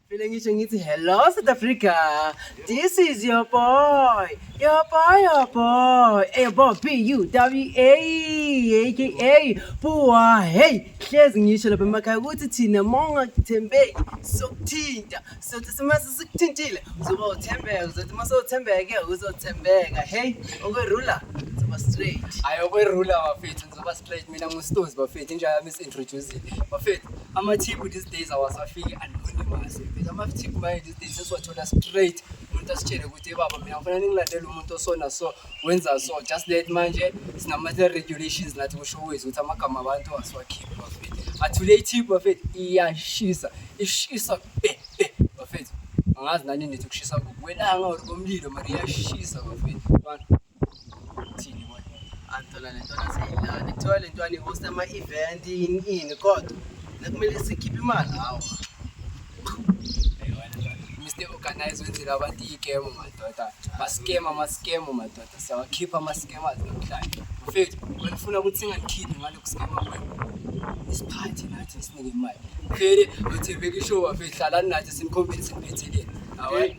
Vele ngisho ngithi hello South Africa. This is your boy. Your boy, your boy. Hey boy, B U W A aka Bua. Hey, hlezi ngisho lapha emakhaya ukuthi thina monga kuthembeki sokuthinta. Sothi simase sikuthintile uzoba uthembeka. Uzothi mase uthembeke uzothembeka. Hey, okwe ruler. Uzoba straight. Ayo kwerula bafethu. Ngoba straight mina nguStozi bafethu inja yami isintroducile. Bafethu amathipu these days awasafiki anonymous. Bafethu amathipu manje these days sesiwathola straight. Umuntu asitshele ukuthi "Hey, baba mina ngifuna ningilandele umuntu osona so wenza so just let manje sinama regulations nathi kusho wethu ukuthi amagama abantu asiwakhiphi bafethu. Athule ithipu bafethu iyashisa. Ishisa be be bafethu. Angazi nani nithi kushisa kuwelanga or komlilo mari iyashisa bafethu. Abantu Angithola le ntwana seyilana. Kuthiwa le ntwana ihosta ama-event yini ini kodwa nakumele sikhiphe imali hawa. Mr. Organize wenzela abantu iyigemu madoda. Maskema amaskemu madoda. Siyawakhipha amaskemu azi namhlanje. Mfethu, ngifuna ukuthi singakhiphi ngalokhu skema kwenu. Isiphathi nathi sinike imali. Phele uthembeke ishowa mfethu hlalani nathi sinikhombise siniphetheleni. Hawa.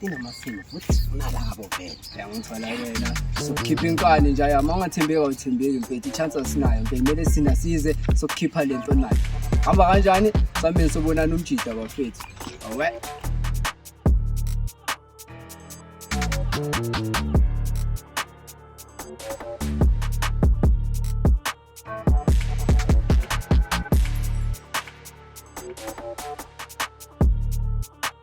Inamasimo futhi sifuna labo vele. Uyangithola yena. Sokukhipha inkani nje ayama ungathembeki awuthembeki mfethu i-chance asinayo mfethu kumele sina size sokukhipha le nto nayo. Hamba kanjani? Sameni sobonana umjida bafethu. Awe.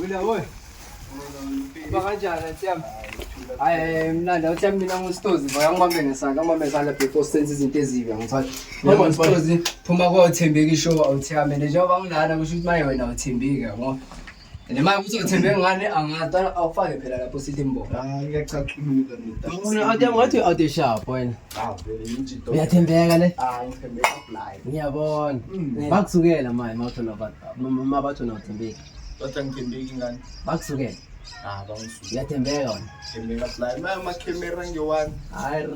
Wila boy. Uba kanjani atyami? Hayi mnandi awutyami mina ngusitozi boy angibambe ngesandla angibambe ngesandla before senze izinto ezibi angithatha. Ngoba ngusitozi phuma kothembeki show awutyami and njengoba ngilana kusho ukuthi maye wena awuthembeki yabo. And maye ukuthi uthembeki ngani angazi awufake phela lapho sithi mbo. Hayi ngiyacaculuka mina. Awuthi awuthi sharp wena. uyathembeka le ah, ngiyabona mm. bakusukela manje ma bathi wena uthembeki bakusukela ah, uyathembeka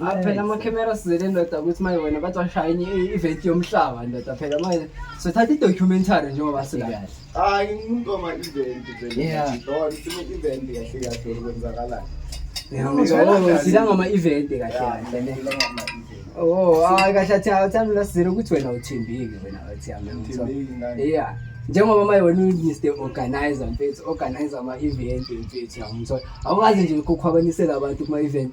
wnaphela amakhemera sizele ndoda ukuthi maye wena bathi washayini i-event yomhlaba ndoda phela manje sothatha i-documentary njengoba sikahle hayi umuntu wama event vele Yeah. ngidona sime event kahle kahle kwenzakalani zila ngama-event kahle kahle ne Oh, hayi kahle athi awuthanda ulasizela ukuthi wena uthembile wena athi yami yeah njengoba manje wena uyister organizer mfethu organizer ama-event mfethu yamthola awukazi nje ukukhwabanisela abantu kuma-event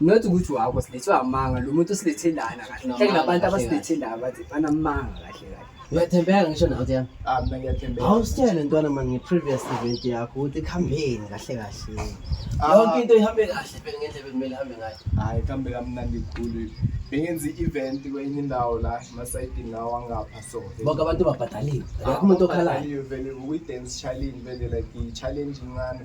not ukuthi wakho silethwe amanga lo muntu usilethe lana kahle Sinamanga hleke nabantu kahle abasilethe la bathi banamanga kahle kahle uyathembeka ngisho nawe uthi yami ah mina ngiyathembeka awusitshele ntwana mani nge-previous event yakho ukuthi ikuhambeni kahle kahle Ah. yonke into ihambe kahle phela ngendlela bekumele ihambe ngayo hayi kambe kamnandi kukhulu bengenza i-event kwenye indawo la emasayidini lawo angapha so bonke abantu babhadaliwe akekho umuntu okhalayo Abhadaliwe vele ukuyi-dance challenge vele like i-challenge incane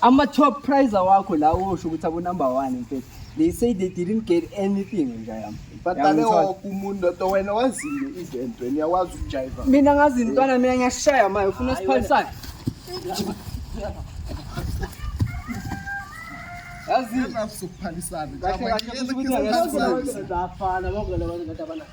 ama-top prizer wakho la wosho ukuthi abonumber one mfethu they say they didn't get anything nja yam badale woke umuntu oto wena wazile ivento wena uyakwazi ukujayiva mina ngazi intwana mina ngiyashaya maye ufuna siphalisane yazi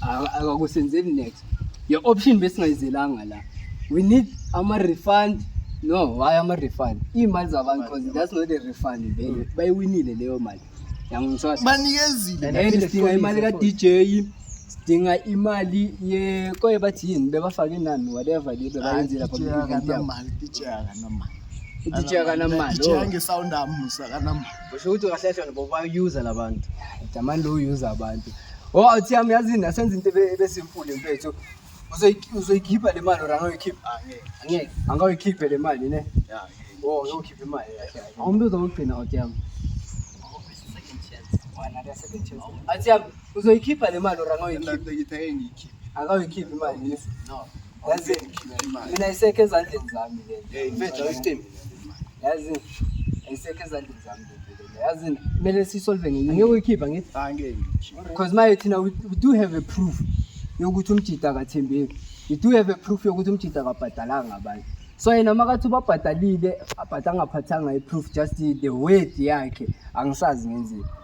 akakusenzeli next your option besingayizelanga la we need ama-refund no why ama-refund iy'mali zabantu because that's not a refund vele bayiwinile leyo mali yangimswasa banikezile And and sidinga imali ka-dj sidinga imali ye koye bathi yini bebafake inani whatever le bebayenzile lapha kwi-event yabo. akanamali DJ akanamali DJ akanamali DJ oh. angesawundi amusa akanamali Usho ukuthi ungahlehla ngoba bayuza labantu. Jamani lo user abantu. Oh athi yami yazi na senza into ebesimfule mfethu. Uzoyikhipha le mali or angayikhipha? Ah, angeke. Angeke. Angayikhiphe le mali ne? Yeah. Oh, uzokhipha imali. Awumntu uzokugcina athi yami. Athi yami uzoyikhipha le mali or angayikhipha? Ngithe ngiyikhiphe. Angayikhipha imali. No. yazi mina isekho ezandleni zami le mfethu awucimbi yazi ayisekho ezandleni zami yazi kumele sisolve ngenye ngeke uyikhipha ngithi because maye thina we do have a proof yokuthi umjida akathembeki we do have a proof yokuthi umjida akabhadalanga abantu so yena makathi ubabhadalile abhada angaphathanga i-proof just the word yakhe angisazi ngenzeni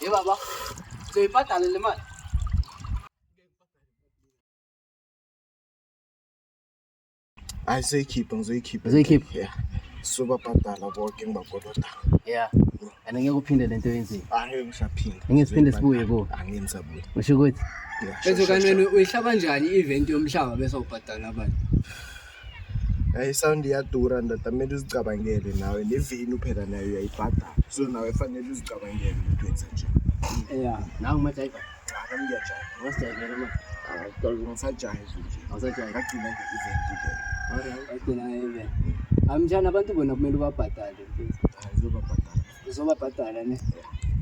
Hey baba, uzoyibhadala le mali? Hayi seyikhiphe ngizoyikhipha. Uzoyikhipha? Yeah. Sobabhadala bonke ngibakoloda. Yeah. And ngeke uphinde lento yenzile. Angeke ngisaphinde. Ngeke siphinde sibuye ku. Angeke ngisabuye. Usho ukuthi? Yeah. Bese kanene uyihlaba kanjani i-event yomhlaba bese ubhadala abantu? isawundi iyadura ndoda kumele uzicabangele nawe nevenu phela nayo uyayibhadala so nawe fanele uzicabangele ukuthi wenza nje ya nawe umajayiva cha ngiyajayela ungasijayivela ma ngisajayive nje awusajayive ngagcina nge-event ke agcina nge-event amjani abantu bona kumele ubabhadale uzobabhadala uzobabhadala ne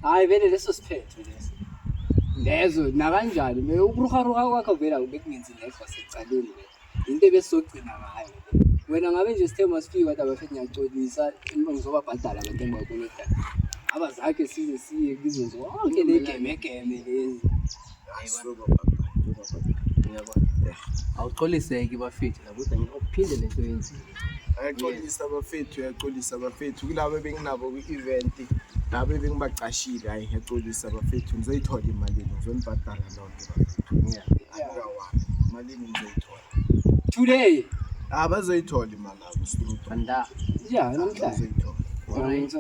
hhayi vele leso siphetho leso lezo nakanjani me ukuruharuha kwakho vela bekungenzi ngekho secaleni yinto ebesizogcina ngayo wena ngabe nje sithe masifike kodwa bafethu ngiyaxolisa ngizobabhadala abantu engibakolota aba zakhe size siye kuzo zonke negemegeme lezi awuxoliseki bafethu lakuthi ngikuphinde lento yenzile ayaxolisa bafethu uyaxolisa bafethu kulabo ebenginabo kwi-event labo ebengibacashile hayi ngiyaxolisa bafethu ngizoyithola imali ngizonibhadala lona Today. Ah, bazoyithola imali abo straight. Banda. Yeah, namhla. Bazoyithola. Alright.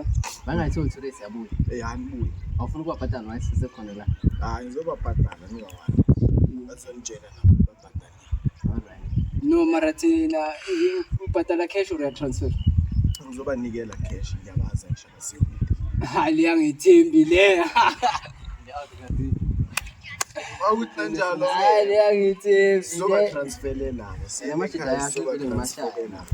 Bangayitholi today siyabuya. Eh, hanibuya. Awufuna ukubabhadala manje sisekhona la. Hayi, ngizobabhadala ningawani. Bazonitshela nabo. No mara thina eh, ubhadala cash or transfer? Ngizobanikela cash ngiyabaza ngisho siyo. Hayi liyangithembi le. Awuthi kanjalo. Hayi liyangithembi. Soba transferela. Yamashida yakho ngimashala.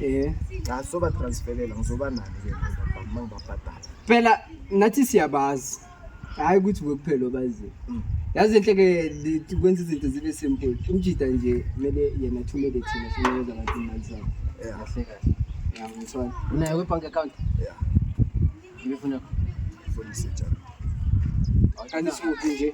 Eh. Cha soba transferela ngizoba nani ke manje ngibabhadala. Phela nathi siyabazi. hayi ukuthi kuphela obaziyo mm. yazi enhle ke kwenza izinto zibe simple umjida nje kumele yena athumele thina sinikeza abantu imali zabo kahle kahle ngiyangithwala unayo kwi-bank account ya ngifuna ngifuna isejalo kanti siwuphi nje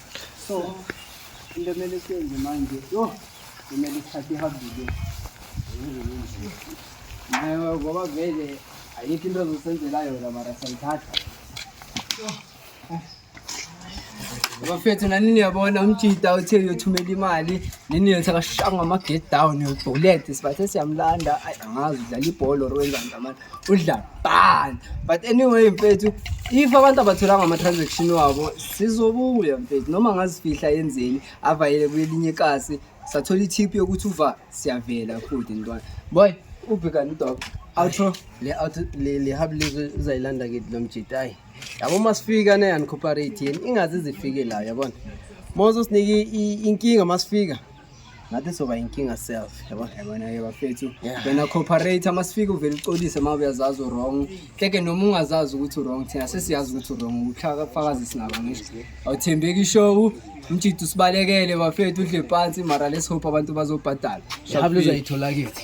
so into emele siyenze manje yho kumele ithathe ihambile nayo ngoba vele ayikho into ezosenzela yona mara sayithatha bafethu nanini uyabona umjita uthe uyothumela imali nini yothi akashanga ama-get down uyobhulete sibathe siyamlanda ayi angazi udlala ibhola or wenzani amana udla ban but anyway mfethu if abantu abatholanga ama-transaction wabo sizobuya mfethu noma ngazifihla yenzeni avayele kwelinye ikasi sathola i-tip yokuthi uva siyavela futhi ntwana boy ubhekani udok outro le out le le hub lizwe uzayilanda ke lo mjita ayi yabo masifika ne uncooperate yini ingaze zifike la yabona mozo sinike inkinga masifika ngathi soba inkinga self yabo yabona ke bafethu wena cooperate masifike uvele uxolise uma uyazazi wrong keke noma ungazazi ukuthi wrong thina sesiyazi ukuthi wrong uhlaka fakazi sinabo ngisho awuthembeki ishow umjidi usibalekele bafethu udle phansi mara let's hope abantu bazobhadala shabu lozayithola kithi